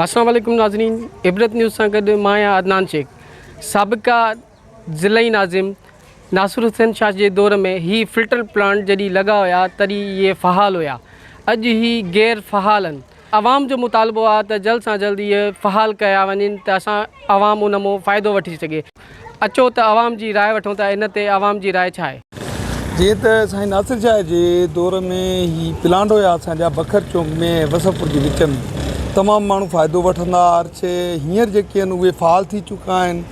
السلام عليڪم ناظرين عبرت نيوز سان گڏ مان آهيان عدنان شيخ سابقا ضلعي ناظم ناصر حسين شاھ جي دور ۾ هي فلٽر پلانٽ جڏي لڳا هيا تڏي اهي فعال هيا اڄ هي غير فعال آهن عوام جو مطالبو آهي ته جلد سان جلد اهي فعال ڪيا وڃن ته اسان عوام ان مون فائدو وٺي سگهي. اچو ته عوام جي راء وٺون ته ان تي عوام جي راء ڇا آهي. جيئن ته سائين ناصر شاهه جي دور ۾ هي پلانٽ هيا اسان جا بکر چونڪ ۾ ۽ وسفپور جي وچ ۾ تمام ماڻهو فائدو وٺندا هئا ارڇي هينئر جيڪي آهن اهي فعال ٿي چڪا آهن.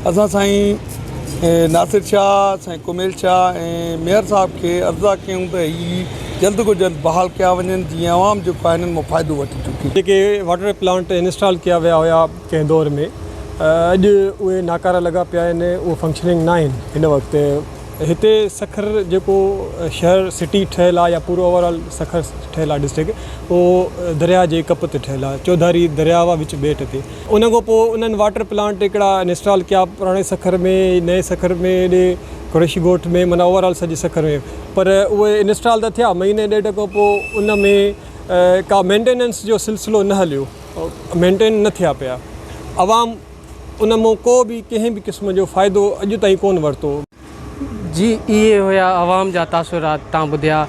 اسان سائين ناصر شاهه، سائين ڪميل شاهه ۽ ميئر صاحب کي عرضدار ڪيون ته هي جلد کان جلد بحال ڪيا وڃن جيئن عوام جيڪو آهي انهن مان فائدو وٺي چڪي. جيڪي واٽر پلانٽ انسٽال ڪيا ويا هيا ڪنهن دور ۾ اڄ اهي ناڪارا لڳا پيا آهن اهي فنڪشننگ نه آهن هن وقت هتي سکر جيڪو شهر سٽي ٺهيل آهي يا پورو اوور آل سکر ٺهيل آهي ڊسٽرڪ اهو درياهه جي ڪپ تي ٺهيل آهي چوڌاري درياهه وچ ٻيٽ تي ان کان پوء انهن واٽر پلانٽ هڪڙا انسٽال ڪيا پراڻي سکر ۾ نئين سکر ۾ ايڏي قريشي ڳوٺ ۾ معنيٰ اوور آل سڄي سکر ۾ پر اهي انسٽال ته ٿيا مهيني ڏيڍ کان پوء ان ۾ ڪا مينٽيننس جو سلسلو نه هليو مينٽين نه ٿيا پيا عوام ان مون ڪو به ڪنهن به قسم جو فائدو اڄ تائين ڪون ورتو. جي اهي هيا عوام جا تاثرات تان ٻڌيا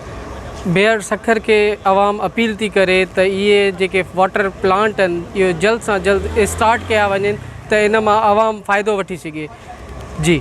بيئر سکر کي عوام اپيل ٿي ڪري ته اهي جيڪي واٽر پلانٽ اهن اهي جلد سان جلد اسٽارٽ ڪيا وڃن ته ان مان عوام فائدو وٺي سگهي جي.